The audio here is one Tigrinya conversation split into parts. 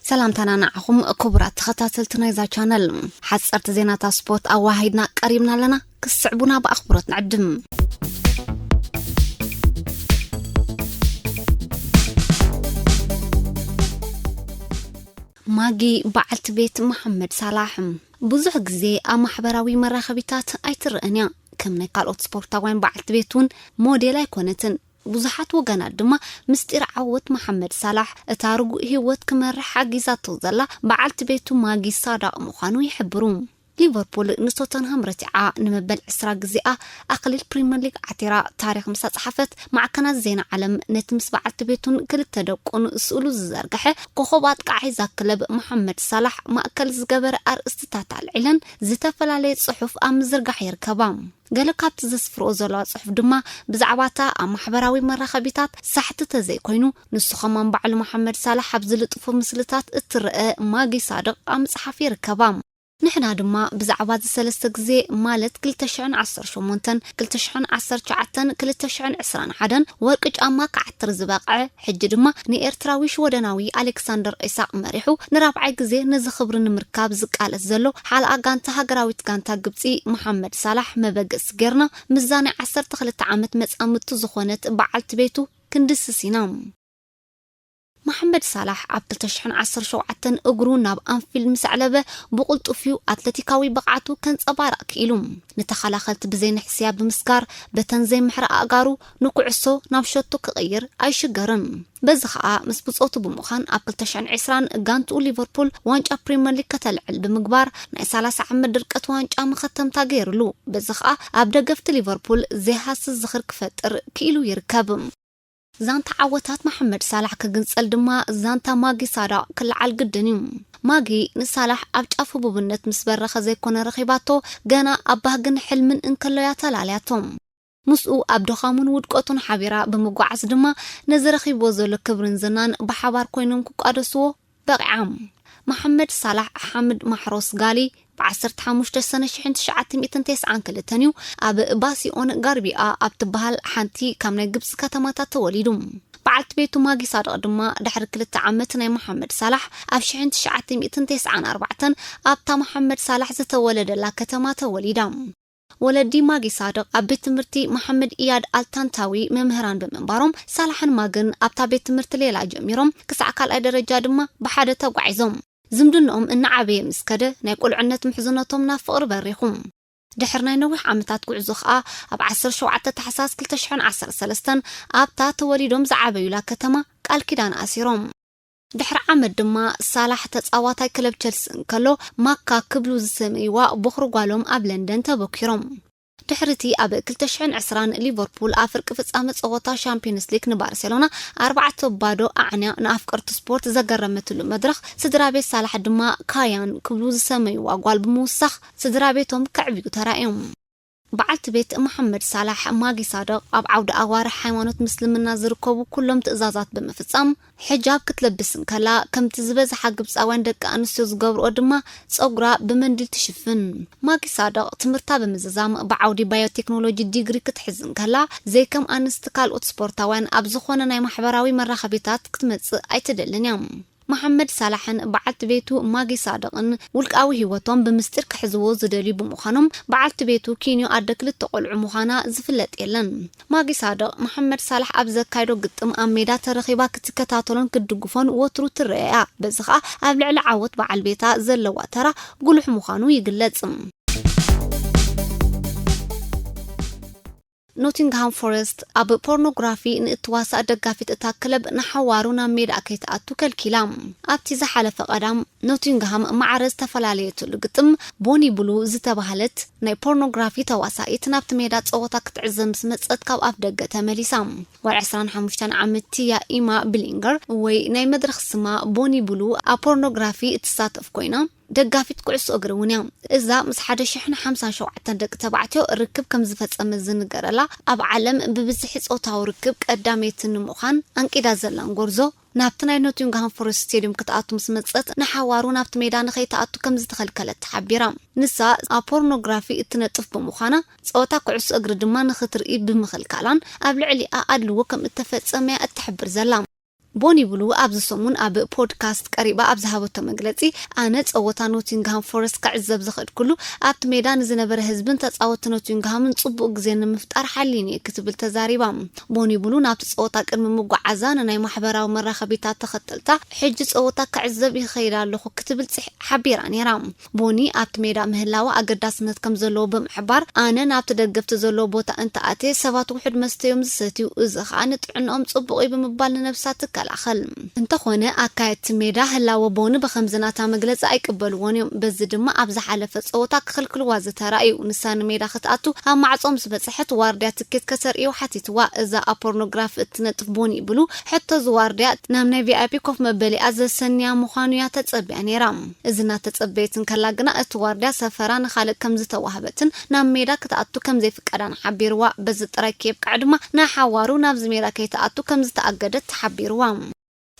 ሰላምታና ንዓኹም ክቡራት ተኸታተልቲ ናይዛ ቻነል። ሓጸርቲ ዜናታት ስፖርት ኣዋሂድና ቀሪብና ኣለና፣ ክትስዕቡና ብኣኽብሮት ንዕድም። ማጊ በዓልቲ ቤት መሓመድ ሳላሕ ብዙሕ ግዜ ኣብ ማሕበራዊ መራኸቢታት ኣይትረአን እያ ከም ናይ ካልኦት ስፖርታውያን በዓልቲ ቤት እውን ሞዴል ኣይኮነትን ብዙሓት ወገናት ድማ ምስጢር ዓወት መሓመድ ሳላሕ፣ እታ ርጉእ ህይወት ክመርሕ ሓጊዛቶ ዘላ በዓልቲ ቤቱ ማጊ ሳዳቕ ምዃኑ ይሕብሩ። ሊቨርፑል ንቶተንሃም ረቲዓ ንመበል ዕስራ ግዜኣ ኣኽሊል ፕሪመር ሊግ ዓቲራ ታሪኽ ምስ ኣጽሓፈት፣ ማዕከናት ዜና ዓለም ነቲ ምስ በዓልቲ ቤቱን ክልተ ደቁን ስእሉ ዝዘርግሐ ኮኾብ ኣጥቃዓይ'ዛ ክለብ መሓመድ ሳላሕ ማእከል ዝገበረ ኣርእስትታት ኣልዒለን ዝተፈላለየ ጽሑፍ ኣብ ምዝርጋሕ ይርከባ። ገለ ካብቲ ዘስፍርኦ ዘለዋ ጽሑፍ ድማ ብዛዕባ እታ ኣብ ማሕበራዊ መራኸቢታት ሳሕቲ ተዘይኮይኑ ንሱ ከማን ባዕሉ መሓመድ ሳላሕ ኣብ ዝልጥፎ ምስልታት እትረኣ ማጊ ሳድቕ ኣብ ምጽሓፍ ይርከባ። ንሕና ድማ ብዛዕባ እዚ ሰለስተ ግዜ ማለት ክልተ ሽሕን ዓሰርተ ሸሞንተን፣ ክልተ ሽሕን ዓሰርተ ትሽዓተን፣ ክልተ ሽሕን ዕስራን ሓደን ወርቂ ጫማ ክዓትር ዝበቕዐ፣ ሕጂ ድማ ንኤርትራዊ ሽወደናዊ ኣሌክሳንደር ኢሳቕ መሪሑ ንራብዓይ ግዜ ነዚ ክብሪ ንምርካብ ዝቃለስ ዘሎ ሓልኣ ጋንታ ሃገራዊት ጋንታ ግብጺ መሓመድ ሳላሕ መበገሲ ጌርና ምስዛ ናይ ዓሰርተ ክልተ ዓመት መጻምድቱ ዝኾነት በዓልቲ ቤቱ ክንድስስ ኢና። መሓመድ ሳላሕ ኣብ ክልተ ሽሕን ዓሰርተ ሸውዓተን እግሩ ናብ ኣንፊልድ ምስ ኣዕለበ ብቕልጡፍ'ዩ ኣትለቲካዊ ብቕዓቱ ከንጸባርቕ ክኢሉ። ንተኸላኸልቲ ብዘይንሕስያ ብምስጋር በተን ዘይምሕራ ኣእጋሩ ንኩዕሶ ናብ ሸቶ ክቕይር ኣይሽገርን። በዚ ከኣ ምስ ብጾቱ ብምዃን ኣብ ክልተ ሽሕን ዕስራን ጋንትኡ ሊቨርፑል ዋንጫ ፕሪመር ሊግ ከተልዕል ብምግባር ናይ ሰላሳ ዓመት ድርቀት ዋንጫ መኸተምታ ገይርሉ። በዚ ከኣ ኣብ ደገፍቲ ሊቨርፑል ዘይሃስስ ዝኽሪ ክፈጥር ክኢሉ ይርከብ። ዛንታ ዓወታት መሓመድ ሳላሕ ክግንጸል ድማ ዛንታ ማጊ ሳዳቕ ክለዓል ግድን እዩ። ማጊ ንሳላሕ ኣብ ጫፍ ህቡብነት ምስ በረኸ ዘይኮነ ረኺባቶ፣ ገና ኣብ ባህግን ሕልምን እንከሎ'ያ ተላልያቶ። ምስኡ ኣብ ድኻሙን ውድቀቱን ሓቢራ ብምጉዓዝ ድማ ነዚ ረኺብዎ ዘሎ ክብርን ዝናን ብሓባር ኮይኖም ክቋደስዎ በቒዓም። መሓመድ ሳላሕ ሓምድ ማሕሮስ ጋሊ ብ ዓሰርተ ሓሙሽተ ሰነ ሽሕን ትሽዓተ ሚእትን ቴስዓን ክልተን እዩ ኣብ ባሲኦን ጋርቢኣ ኣብ ትበሃል ሓንቲ ካብ ናይ ግብጺ ከተማታት ተወሊዱ። በዓልቲ ቤቱ ማጊ ሳድቕ ድማ ድሕሪ ክልተ ዓመት ናይ መሓመድ ሳላሕ ኣብ ሽሕን ትሽዓተ ሚእትን ቴስዓን ኣርባዕተን ኣብታ መሓመድ ሳላሕ ዝተወለደላ ከተማ ተወሊዳ። ወለዲ ማጊ ሳድቕ ኣብ ቤት ትምህርቲ መሓመድ ኢያድ ኣልታንታዊ መምህራን ብምንባሮም፣ ሳላሕን ማግን ኣብታ ቤት ትምህርቲ ሌላ ጀሚሮም ክሳዕ ካልኣይ ደረጃ ድማ ብሓደ ተጓዒዞም። ዝምድንኦም እናዓበየ ምስ ከደ፣ ናይ ቁልዕነት ምሕዝነቶም ናብ ፍቕሪ በሪኹ። ድሕሪ ናይ ነዊሕ ዓመታት ጉዕዞ ከኣ ኣብ ዓሰርተ ሸውዓተ ታሕሳስ ክልተ ሽሕን ዓሰርተ ሰለስተን ኣብታ ተወሊዶም ዝዓበዩላ ከተማ ቃል ኪዳን ኣሲሮም። ድሕሪ ዓመት ድማ ሳላሕ ተጻዋታይ ክለብ ቸልሲ እንከሎ ማካ ክብሉ ዝሰመይዋ ቦኽሪ ጓሎም ኣብ ለንደን ተበኲሮም። ድሕሪ'ቲ ኣብ ክልተ ሽሕን ዕስራን ሊቨርፑል ኣብ ፍርቂ ፍጻመ ጸወታ ሻምፕዮንስ ሊግ ንባርሴሎና ኣርባዕተ ብ ባዶ ኣዕንያ ንኣፍቀርቲ ስፖርት ዘገረመትሉ መድረኽ ስድራቤት ሳላሕ ድማ ካያን ክብሉ ዝሰመይዋ ጓል ብምውሳኽ ስድራቤቶም ከዕብዩ ተራእዮም። በዓልቲ ቤት መሓመድ ሳላሕ፣ ማጊ ሳድቕ፣ ኣብ ዓውዲ ኣዋርሕ ሃይማኖት ምስልምና ዝርከቡ ኩሎም ትእዛዛት ብምፍጻም ሕጃብ ክትለብስ እንከላ፣ ከምቲ ዝበዝሓ ግብጻውያን ደቂ ኣንስትዮ ዝገብርኦ ድማ ጸጉራ ብመንዲል ትሽፍን። ማጊ ሳድቕ፣ ትምህርታ ብምዝዛም ብዓውዲ ባዮቴክኖሎጂ ዲግሪ ክትሕዝ እንከላ፣ ዘይከም ኣንስቲ ካልኦት ስፖርታውያን ኣብ ዝኾነ ናይ ማሕበራዊ መራኸቢታት ክትመጽእ ኣይትደልን እያ። መሓመድ ሳላሕን በዓልቲ ቤቱ ማጊ ሳድቕን ውልቃዊ ህይወቶም ብምስጢር ክሕዝዎ ዝደልዩ ብምዃኖም፣ በዓልቲ ቤቱ ኪንዮ ኣደ ክልተ ቆልዑ ምዃና ዝፍለጥ የለን። ማጊ ሳድቕ፣ መሓመድ ሳላሕ ኣብ ዘካይዶ ግጥም ኣብ ሜዳ ተረኺባ ክትከታተሎን ክትድግፎን ወትሩ ትርኣ'ያ፣ በዚ ከኣ ኣብ ልዕሊ ዓወት በዓል ቤታ ዘለዋ ተራ ጉሉሕ ምዃኑ ይግለጽ። ኖቲንግሃም ፎረስት ኣብ ፖርኖግራፊ ንእትዋሳእ ደጋፊት እታ ክለብ ንሓዋሩ ናብ ሜዳኣ ከይትኣቱ ከልኪላ። ኣብቲ ዝሓለፈ ቀዳም፣ ኖቲንግሃም ማዕረ ዝተፈላለየትሉ ግጥም፣ ቦኒ ብሉ ዝተባህለት ናይ ፖርኖግራፊ ተዋሳኢት ናብቲ ሜዳ ጸወታ ክትዕዘብ ምስ መጸት ካብ ኣፍደገ ተመሊሳ። ጓል ዕስራን ሓሙሽተን ዓመት ቲያ ኢማ ብሊንገር ወይ ናይ መድረኽ ስማ ቦኒ ብሉ ኣብ ፖርኖግራፊ እትሳተፍ ኰይና፣ ደጋፊት ኩዕሶ እግሪ እውን እያ። እዛ ምስ ሓደ ሽሕን ሓምሳን ሸውዓተን ደቂ ተባዕትዮ ርክብ ከም ዝፈጸመት ዝንገረላ፣ ኣብ ዓለም ብብዝሒ ጾታዊ ርክብ ቀዳመይቲ ንምዃን ኣንቂዳ ዘላን ጎርዞ፣ ናብቲ ናይ ኖቲንግሃም ፎረስት ስቴድዩም ክትኣቱ ምስ መጸት ንሓዋሩ ናብቲ ሜዳ ንኸይትኣቱ ከም ዝተኸልከለት ተሓቢራ። ንሳ ኣብ ፖርኖግራፊ እትነጥፍ ብምዃና፣ ጸወታ ኩዕሶ እግሪ ድማ ንኽትርኢ ብምኽልካላን ኣብ ልዕሊኣ ኣድልዎ ከም እተፈጸመ እያ እትሕብር ዘላ። ቦኒ ብሉ ኣብዚ ሰሙን ኣብ ፖድካስት ቀሪባ ኣብ ዝሃበቶ መግለጺ፣ ኣነ ጸወታ ኖቲንግሃም ፎረስት ክዕዘብ ዝኸድኩሉ፣ ኣብቲ ሜዳ ንዝነበረ ህዝብን ተጻወትቲ ኖቲንግሃምን ጽቡቕ ግዜ ንምፍጣር ሓሊን'የ ክትብል ተዛሪባ። ቦኒ ብሉ ናብቲ ጸወታ ቅድሚ ምጉዓዛ ንናይ ማሕበራዊ መራኸቢታት ተኸተልታ፣ ሕጂ ጸወታ ክዕዘብ ይኸይድ ኣለኹ ክትብል ሓቢራ ነይራ። ቡኒ ኣብቲ ሜዳ ምህላው ኣገዳስነት ከም ዘለዎ ብምሕባር፣ ኣነ ናብቲ ደገፍቲ ዘለዎ ቦታ እንተኣትየ፣ ሰባት ውሑድ መስተ'ዮም ዝሰትዩ፣ እዚ ኸኣ ንጥዕንኦም ጽቡቕ'ዩ ብምባል ንነብሳ ትከላኸል። እንተዀነ፣ ኣካየድቲ ሜዳ ህላወ ቦኒ ብኸምዚ ናታ መግለጺ ኣይቅበልዎን'ዮም፣ በዚ ድማ ኣብ ዝሓለፈ ጸወታ ክኽልክልዋ ዝተራእዩ። ንሳ ንሜዳ ክትኣቱ ኣብ ማዕጾ ምስ በጽሐት፣ ዋርድያ ትኬት ከተርእዮ ሓቲትዋ። እዛ ኣብ ፖርኖግራፊ እትነጥፍ ቦኒ'ብሉ ሕቶ'ዚ ዋርድያ፣ ናብ ናይ ቪኣይፒ ኮፍ መበሊኣ ዘሰንያ ምዃኑ'ያ ተጸብያ ነይራ። እዚ እናተጸበየት እንከላ ግና እቲ ዋርድያ ሰፈራ ንኻልእ ከም ዝተዋህበትን ናብ ሜዳ ክትኣቱ ከም ዘይፍቀዳን ሓቢርዋ። በዚ ጥራይ ከየብቅዐ ድማ ንሓዋሩ ናብዚ ሜዳ ከይትኣቱ ከም ዝተኣገደት ተሓቢርዋ።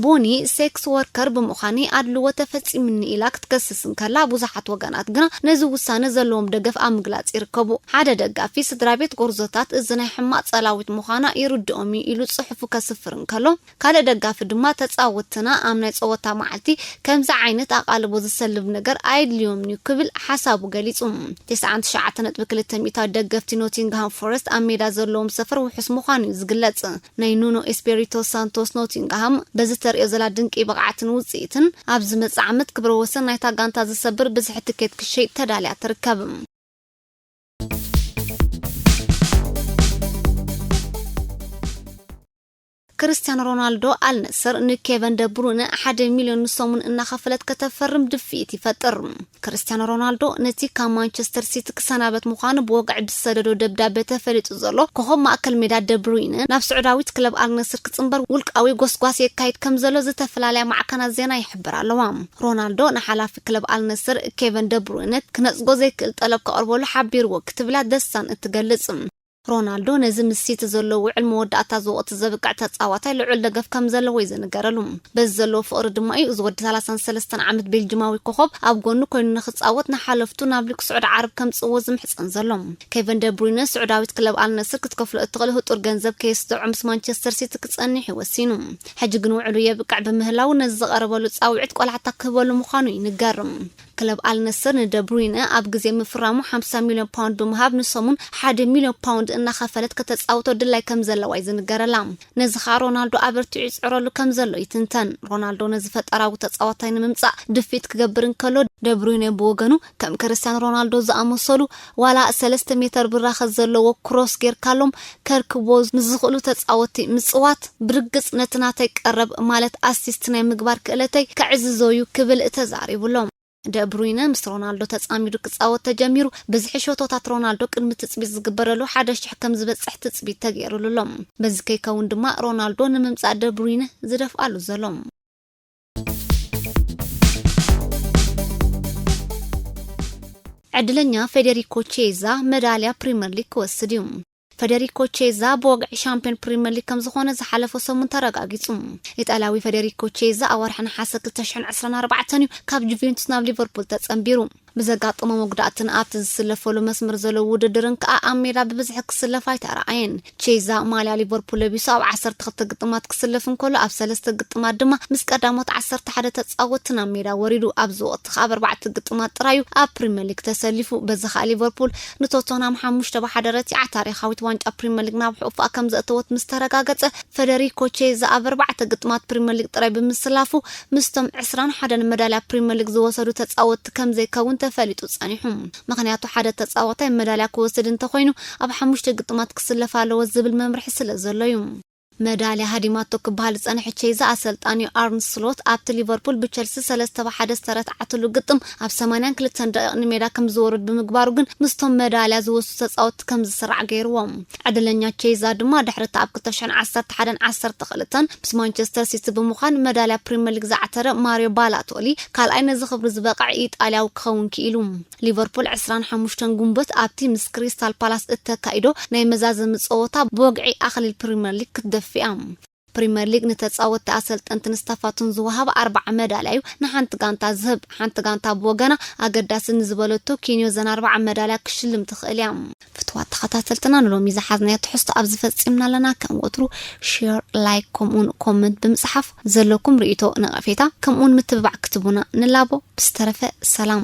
ቡኒ፣ ሴክስ ወርከር ብምዃንይ ኣድልዎ ተፈጺሙኒ ኢላ ክትከስስ እንከላ፣ ብዙሓት ወገናት ግና ነዚ ውሳነ ዘለዎም ደገፍ ኣብ ምግላጽ ይርከቡ። ሓደ ደጋፊ፣ ስድራቤት ጎርዞታት እዚ ናይ ሕማቕ ጸላዊት ምዃና ይርድኦም'ዩ ኢሉ ጽሑፉ ከስፍር እንከሎ፣ ካልእ ደጋፊ ድማ ተጻወትትና ኣብ ናይ ጸወታ መዓልቲ ከምዚ ዓይነት ኣቓልቦ ዝሰልብ ነገር ኣየድልዮምን'ዩ ክብል ሓሳቡ ገሊጹ። ተስዓን ትሽዓተ ነጥቢ ክልተ ሚእታዊት ደገፍቲ ኖቲንግሃም ፎረስት ኣብ ሜዳ ዘለዎም ሰፈር ውሑስ ምዃኑ'ዩ ዝግለጽ። ናይ ኑኖ ኤስፔሪቶ ሳንቶስ ኖቲንግሃም በዚ ተርእዮ ዘላ ድንቂ ብቕዓትን ውጽኢትን ኣብ ዝመጽእ ዓመት ክብረ ወሰን ናይታ ጋንታ ዝሰብር ብዝሒ ትኬት ክትሸይጥ ተዳልያ ትርከብ። ክርስትያኖ ሮናልዶ፣ ኣል ነስር ንኬቨን ደ ብሩይነ ሓደ ሚልዮን ንሰሙን እናኸፈለት ከተፈርም ድፍኢት ይፈጥር። ክርስትያኖ ሮናልዶ ነቲ ካብ ማንቸስተር ሲቲ ክሰናበት ምዃኑ ብወግዒ ብዝሰደዶ ደብዳበ ተፈሊጡ ዘሎ ኮኾብ ማእከል ሜዳ ደ ብሩይነ፣ ናብ ስዑዳዊት ክለብ ኣል ነስር ክጽንበር ውልቃዊ ጎስጓስ የካይድ ከምዘሎ ዝተፈላለያ ማዕከናት ዜና ይሕብራ ኣለዋ። ሮናልዶ ንሓላፊ ክለብ ኣል ነስር ኬቨን ደ ብሩይነ ክነጽጎ ዘይክእል ጠለብ ከቕርበሉ ሓቢርዎ ክትብላ ዘ ሳን እትገልጽ። ሮናልዶ ነዚ ምስ ሲቲ ዘለዎ ውዕል መወዳእታ እዚ ወቕቲ ዘብቅዕ ተጻዋታይ ልዑል ደገፍ ከምዘለዎ'ዩ ዝንገረሉ። በዚ ዘለዎ ፍቕሪ ድማ'ዩ እዚ ወዲ ሰላሳን ሰለስተን ዓመት ቤልጅማዊ ኮኾብ ኣብ ጎኑ ኮይኑ ንኽጻወት ንሓለፍቱ ናብ ሊግ ስዑድ ዓረብ ከምጽእዎ ዝምሕጸን ዘሎ። ኬቨን ደ ብሩይነ ስዑዳዊት ክለብ ኣል ነስር ክትከፍሎ እትኽእል ህጡር ገንዘብ ከየስደዖ ምስ ማንቸስተር ሲቲ ክጸንሕ'ዩ ወሲኑ። ሕጂ ግን ውዕሉ የብቅዕ ብምህላዉ ነዚ ዝቐረበሉ ጻውዒት ቆላሕታ ክህበሉ ምዃኑ ይንገር። ክለብ ኣልነስር ንደብሩይነ ኣብ ግዜ ምፍራሙ ሓምሳ ሚልዮን ፓውንድ ብምሃብ ንሰሙን ሓደ ሚልዮን ፓውንድ እናኸፈለት ከተጻውቶ ድላይ ከምዘለዋ እዩ ዝንገረላ። ነዚ ከኣ ሮናልዶ ኣበርቲዑ ይጽዕረሉ ከምዘሎ ይትንተን። ሮናልዶ ነዚ ፈጠራዊ ተጻዋታይ ንምምጻእ ድፍኢት ክገብር እንከሎ፣ ደብሩይነ ብወገኑ ከም ክርስትያኖ ሮናልዶ ዝኣመሰሉ ዋላ ሰለስተ ሜተር ብራኸ ዘለዎ ክሮስ ጌርካሎም ከርክብዎ ንዝኽእሉ ተጻወትቲ ምጽዋት፣ ብርግጽ ነቲ ናተይ ቀረብ ማለት ኣሲስት ናይ ምግባር ክእለተይ ከዕዝዞ'ዩ ክብል ተዛሪቡ'ሎ። ደ ብሩይነ ምስ ሮናልዶ ተጻሚዱ ክጻወት ተጀሚሩ፣ ብዝሒ ሸቶታት ሮናልዶ ቅድሚ ትጽቢት ዝግበረሉ ሓደ ሽሕ ከም ዝበጽሕ ትጽቢት ተገይሩሉ'ሎ። በዚ ከይከውን ድማ ሮናልዶ ንምምጻእ ደ ብሩይነ ዝደፍኣሉ ዘሎ። ዕድለኛ ፌዴሪኮ ቼዛ መዳልያ ፕሪምየር ሊግ ክወስድ እዩ። ፈደሪኮ ቼዛ ብወግዒ ሻምፒዮን ፕሪምየር ሊግ ከም ዝኾነ ዝሓለፈ ሰሙን ተረጋጊጹ። ኢጣልያዊ ፈደሪኮ ቼዛ ኣዋርሒ ነሓሰ 2024 እዩ ካብ ጁቬንቱስ ናብ ሊቨርፑል ተጸንቢሩ። ብዘጋጠሞ መጉዳእትን ኣብቲ ዝስለፈሉ መስመር ዘሎ ውድድርን ከኣ ኣብ ሜዳ ብብዝሒ ክስለፍ ኣይተራኣየን። ቼዛ ማልያ ሊቨርፑል ለቢሱ ኣብ ዓሰርተ ክልተ ግጥማት ክስለፍ እንከሎ ኣብ ሰለስተ ግጥማት ድማ ምስ ቀዳሞት ዓሰርተ ሓደ ተጻወትቲ ናብ ሜዳ ወሪዱ። ኣብዚ ወቕቲ ከኣ ኣብ ኣርባዕተ ግጥማት ጥራይ'ዩ ኣብ ፕሪመር ሊግ ተሰሊፉ። በዚ ከኣ ሊቨርፑል ንቶተንሃም ሓሙሽተ ብ ሓደ ረቲዓ ታሪኻዊት ዋንጫ ፕሪመር ሊግ ናብ ሕቝፋኣ ከምዘእተወት ምስ ተረጋገጸ፣ ፈደሪኮ ቼዛ ኣብ ኣርባዕተ ግጥማት ፕሪመር ሊግ ጥራይ ብምስላፉ ምስቶም ዕስራን ሓደን መዳልያ ፕሪመር ሊግ ዝወሰዱ ተጻወትቲ ከምዘይከውን ተፈሊጡ ጸኒሑ። ምኽንያቱ ሓደ ተጻዋታይ መዳልያ ክወስድ እንተኾይኑ ኣብ ሓሙሽተ ግጥማት ክስለፍ ኣለዎ ዝብል መምርሒ ስለዘሎ'ዩ። መዳልያ ሃዲማቶ ክበሃል ዝጸንሐ ቼይዛ ኣሰልጣኒኡ ኣርን ስሎት ኣብቲ ሊቨርፑል ብቸልሲ ሰለስተ ብ ሓደ ዝተረትዓትሉ ግጥም ኣብ ሰማንያን ክልተን ደቒቕ ንሜዳ ከምዝወርድ ብምግባሩ ግን ምስቶም መዳልያ ዝወስዱ ተጻወትቲ ከምዝስራዕ ገይርዎም። ዕድለኛ ኬይዛ ድማ ድሕሪ'ቲ ኣብ ክልተ ሽሕን ዓሰርተ ሓደን ዓሰርተ ክልተን ምስ ማንቸስተር ሲቲ ብምዃን መዳልያ ፕሪመር ሊግ ዝዓተረ ማርዮ ባላቶሊ ካልኣይ ነዚ ክብሪ ዝበቕዐ ኢጣልያዊ ክኸውን ክኢሉ። ሊቨርፑል ዕስራን ሓሙሽተን ግንቦት ኣብቲ ምስ ክሪስታል ፓላስ እተካይዶ ናይ መዛዘሚ ጸወታ ብወግዒ ኣኽሊል ፕሪመር ሊግ ክትደፍእ'ያ። ፕሪመር ሊግ ንተጻወትቲ ኣሰልጠንትን ስታፋቱን ዝወሃብ ኣርብዓ መዳልያ'ዩ ንሓንቲ ጋንታ ዝህብ። ሓንቲ ጋንታ ብወገና ኣገዳሲ ንዝበለቶ ኪንዮ ዘን ኣርብዓ መዳልያ ክትሽልም ትኽእል እያ። ፍትዋት ተኸታተልትና ንሎሚ ዝሓዝናዮ ትሕዝቶ ኣብዚ ፈጺምና ኣለና። ከም ወትሩ ሼር፣ ላይክ ከምኡውን ኮመንት ብምጽሓፍ ዘለኩም ርእይቶ፣ ነቐፌታ ከምኡውን ምትብባዕ ክትህቡና ንላቦ። ብዝተረፈ ሰላም።